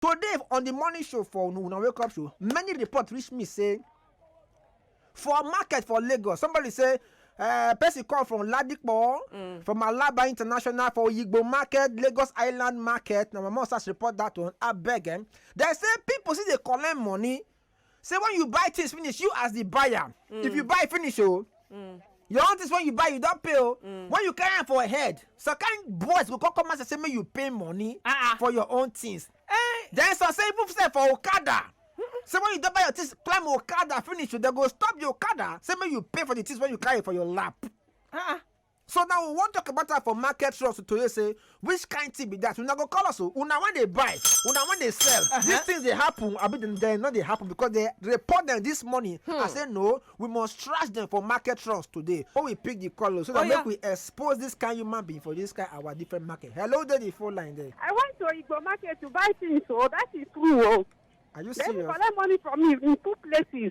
today on the morning show for una wake up show many report reach me say for market for lagos somebody say uh, person come from ladipo mm. from alaba international for oyigbo market lagos island market na my mom start report that one abeg eh? dem say people still dey collect money say when you buy things finish you as the buyer mm. if you mm. buy finish oh mm. your own things when you buy you don pay oh mm. when you carry am for head some kind boys go come come and say make you pay money uh -uh. for your own things eh. then some say even say for okada say when you don buy your things climb okada finish oh, dem go stop the okada say make you pay for the things wey you carry for your lap. Uh -uh. So now we wan talk about am for market trust to tell you say which kind thing be that una go call us o una wan dey buy una wan dey sell uh-huh. these things dey happen abi dem dem no dey happen because they report them this morning hmm. i say no we must trash them for market trust today when we pick the call o so that oh, make we expose this kind human being for this kind our different market hello dey the phone line there. i went to igbo market to buy things o oh, that is true o. Oh. are you serious. dem collect money from me in two places.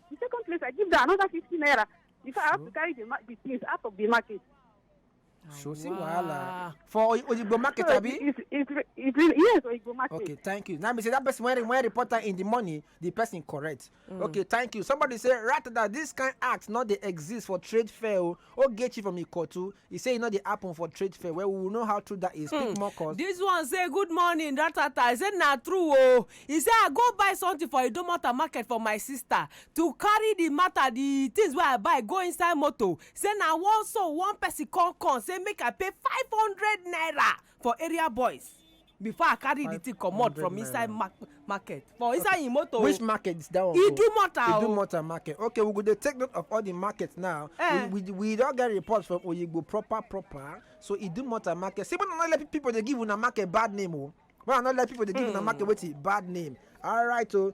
The second place, I give them another 50 naira. Before I have to carry the, the things out of the market. So see wahala for Oyigbo market so abi. It's, it's, it's, yes Oyigbo market. Okay thank you. Now me say that person when when reporter in the money the person correct. Mm. Okay thank you. Somebody say rather that this kind act not dey exist for trade fair o oh, Ogechi from Ikotu, e say e no dey happen for trade fair well we will know how true that is speak more cause. This one say good morning ratata I say na true oo e say I go buy something for Idomota market for my sister to carry the matter the things wey I buy go inside motor say na one so one person come come say make I pay five hundred naira for area boys before i carry the thing comot from inside market for inside im motor which market is that one go idumota o idumota market okay we go dey take note of all the markets now eh. we we we don get reports from oyigbo proper proper so idumota market see when i no let people dey give una market bad name o oh. when i no let people dey give una hmm. market wetin bad name alright o oh.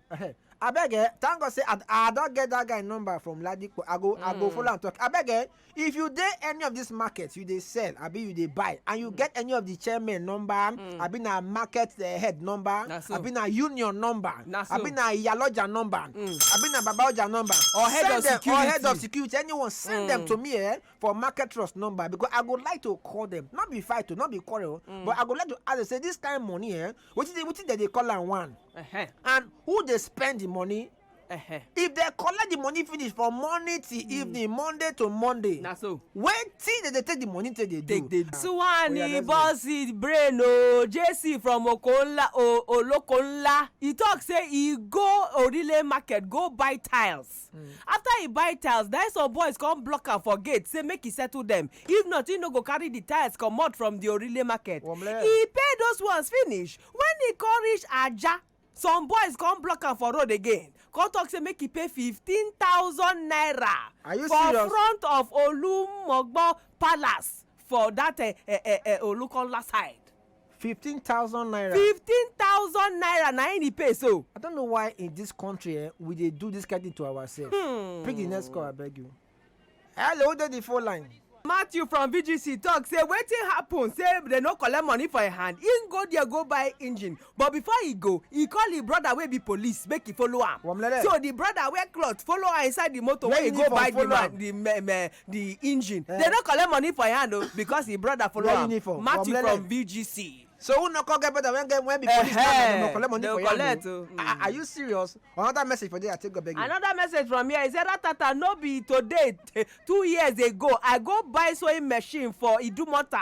abeg eh thank god say i i don get that guy number from ladipo i go i go mm. follow am talk abeg eh if you dey any of this market you dey sell abi you dey buy and you mm. get any of the chairman number mm. abi na market eh, head number abi na union number abi na iyaloja number abi na babaoja number or head of security or head of security anyone send them to me eh for market trust number because i go like to call them not be fight o not be quarrel but i go like to ask them say this kind money eh wetin dey wetin dem dey call am one Uh-huh. and who dey spend the money Uh-huh. if dem collect the money finish from morning till evening monday to monday Na so. wetin dem dey take the money take dey do. Oya, suwani let's go. bọ́sì brain o jc from okonla o olokonla e talk say e go orile market go buy tiles tiles after he buy tiles na some boys come block am for gate say make he settle them if not he no go carry the tiles comot from the orile market he pay those ones finish when he come reach aja some boys come block am for road again come talk say make he pay fifteen thousand naira for front of olumogbo palace for that uh, uh, uh, olukola side fifteen thousand naira. fifteen thousand naira na him he pay so. i don't know why in this country eh, we dey do this kind thing to ourselves. Hmm. pick the next call abeg you. hello who dey the phone line. matthew from vgc talk say wetin happen say dem no collect money for im hand im go there go buy engine but before e go e call im brother wey be police make e follow am so di brother wear cloth follow am inside di motor wey e go buy di man di the engine eh. they no collect money for im hand o oh, because im brother follow am matthew from vgc so who no come get better when get when be police now dem no collect money for yan o oh. ah, are you serious another message for there i take go beg you. another message from here is say ratata no be today two years ago i go buy sewing machine for idumota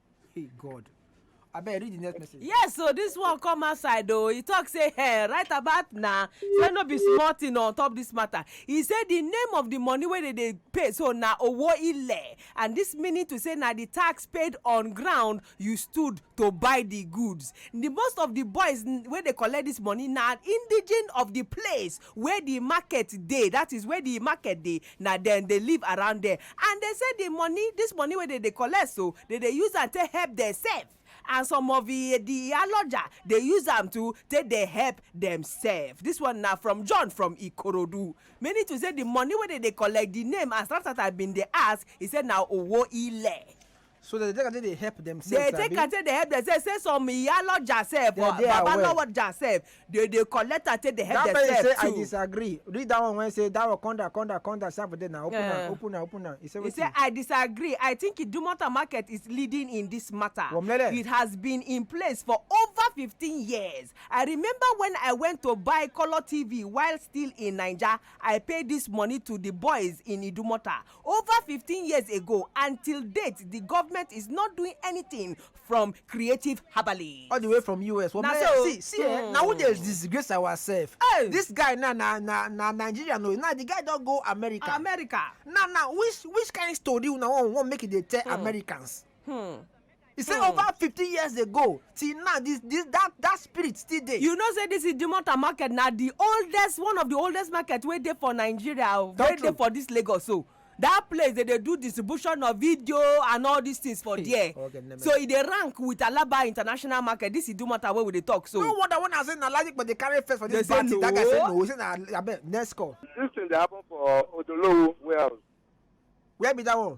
Hey God. abeg read the next message. yes so this one come outside o he talk say hey, eh, right about now say no be small thing on top this matter he say the name of the money wey dey dey pay so na owo ile and this meaning to say na the tax paid on ground you stood to buy the goods the most of the boys wey dey collect this money na indigene of the place where the market dey that is where the market dey na dem dey live around there and they say the money this money wey dem dey collect so they dey use am take help themselves and some of the the aloja dey use am to take dey help themselves this one na from John from Ikorodu meaning to say the money wey dem dey collect the name as Ratata been dey ask he say na owo ile. so dem dey take am take dey help dem sef dey take am take dey help dem sef say some iyaloja sef or babaloja sef dey dey collect am take dey help dem sef too. that person say i disagree read that one wey say that one come down come down come down sef for there na open am open am open am he say wetin. he say i disagree i think idumota market is leading in this matter Womlele. it has been in place for over fifteen years i remember when i went to buy colour tv while still in naija i pay this money to the boys in idumota Over fifteen years ago and till date di government is not doing anything from creative herbalists. all the way from us Na man, so. see see eh, na we dey Hmm. disgrace ourselves Hey. this guy na na na na nigeria no now the guy don go america America. now now which which kind story una wan wan make e dey tell americans Hmm. He say hmm. over fifty years ago till now this this that that spirit still dey. you know say this idumota market na the oldest one of the oldest market wey dey for nigeria o wey dey for this lagos o that place they dey do distribution of video and all these things for there so e dey rank with alaba international market this is do matter wey we dey talk so. no wonder when i say na logic but dey carry face for this party that guy say no he say na abeg next call. this thing dey happen for odolowo warehouse. where be that one.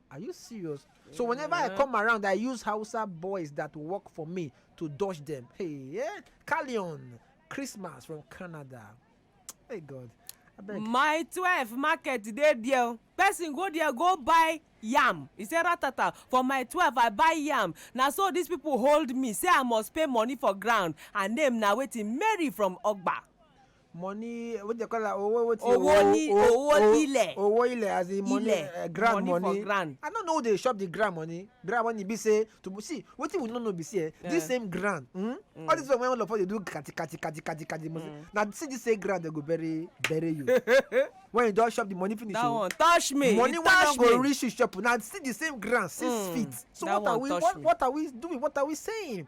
Are you serious? So whenever I come around, I use Hausa boys that work for me to dodge them. Hey, yeah. Callion, Christmas from Canada. Hey, God. My 12 market dey there. Oh. Person go there, go buy yam. He say ratata. For my 12, I buy yam. Now, so these people hold me, say I must pay money for ground. Her name now waiting Mary from Ogba. money what they call am owo wetin Owo ni- o- owo o- ilẹ̀. owo ilẹ̀ as in money Ilẹ̀, eh, ground money for money ground. i no know who dey shop the ground money ground money be say to be- see wetin we no know be say eh, Yeah. this same ground mm, all this one wey all of us dey do kati kati kati kati kati must na see this same ground dey go bury bury you when you don shop the money finish that o one touch me money e wey no touch go me reach you shop na see the same ground six Mm, feet so that what are one we touch what, me. what are we doing what are we saying